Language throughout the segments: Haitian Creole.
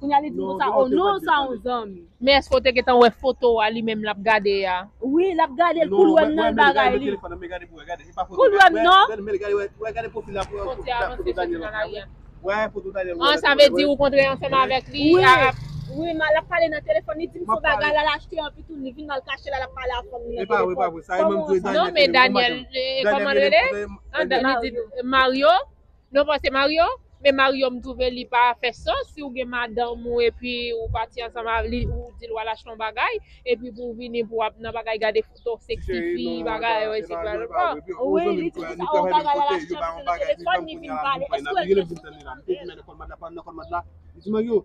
Kounya li di konsa oh non sa yon zanmi. Men eske w te gentan wè foto a li menm lap gade a. Wi lap gade l poul wèm nan bagay li. Poul wèm non. An sa vle di ou kontre ansanm avèk li a. Wi ma lap pale nan telefòn li dim son bagay lal achte anpi tou li vin mal kache la lap pale avk fanm li nan telefòn. Non men Daniel kòman l rele Mario. Non pa se Mario? Men Mario m twouve li pa fè sans si ou gen madanm ou epi ou pati ansanm avè li ou di l wal achte yon bagay epi pou ou vini pou ap nan bagay gade foto seksi fi bagay yo esi bla bla bla wi li di se yon bagay lal achte m se nan telefòn li vin pale èske ou l fè sou telefòn l menm?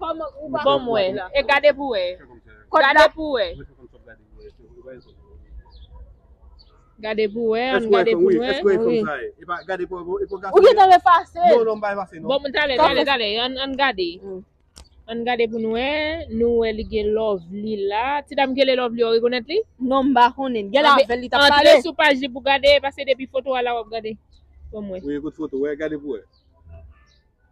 Bon m wè. E gade pou wè. Gade pou wè. Gade pou wè an gade pou wè. Ou gen tan efase l. Bon m tale tale tale an gade. An gade pou n wè. Nou wè li gen lovely la. Ti dam ki rele lovely a ou rekonèt li? Non m pa konnen. Gèlè avè l li t ap pale. Antre sou paj li pou w gade paske depi foto a la w ap gade. Bon m wè. Gade pou wè.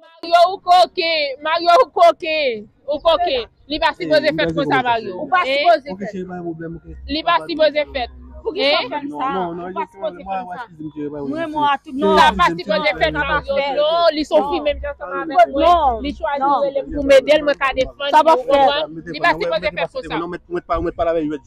Mario ou koken, Mario ou koken, ou koken, li pa sipoze fèt konsa Mario, ou pa sipoze fèt, li pa sipoze fèt, hein, sa pa sipoze fèt Mario, non li son fi menm jan ansanm avèk mwen, li chwazi relem poum edel mwen ka defann li ou konprann, li pa sipoze fèt konsa.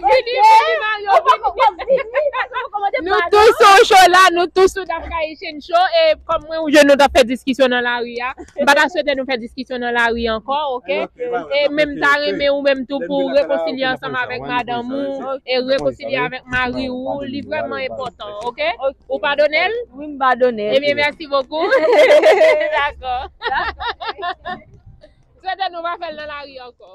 Vini, vini Mario, vini. Nou tou sou cho la, nou tou sou dam kaye chen cho. E kòm mwen ou jèn nou tap fè diskisyon nan lari a, m pa ta swete nou fè diskisyon nan lari ankò, ok? E men m ta renmen ou menm tou pou rekonsilye ansanm avèk madanm ou e rekonsilye avèk mari ou, li vrèman enpòtan, ok? Ou padone l? Wi, m padone l. Ebyen mèsi bokou. Dakò. Swete nou pa fè l nan lari ankò.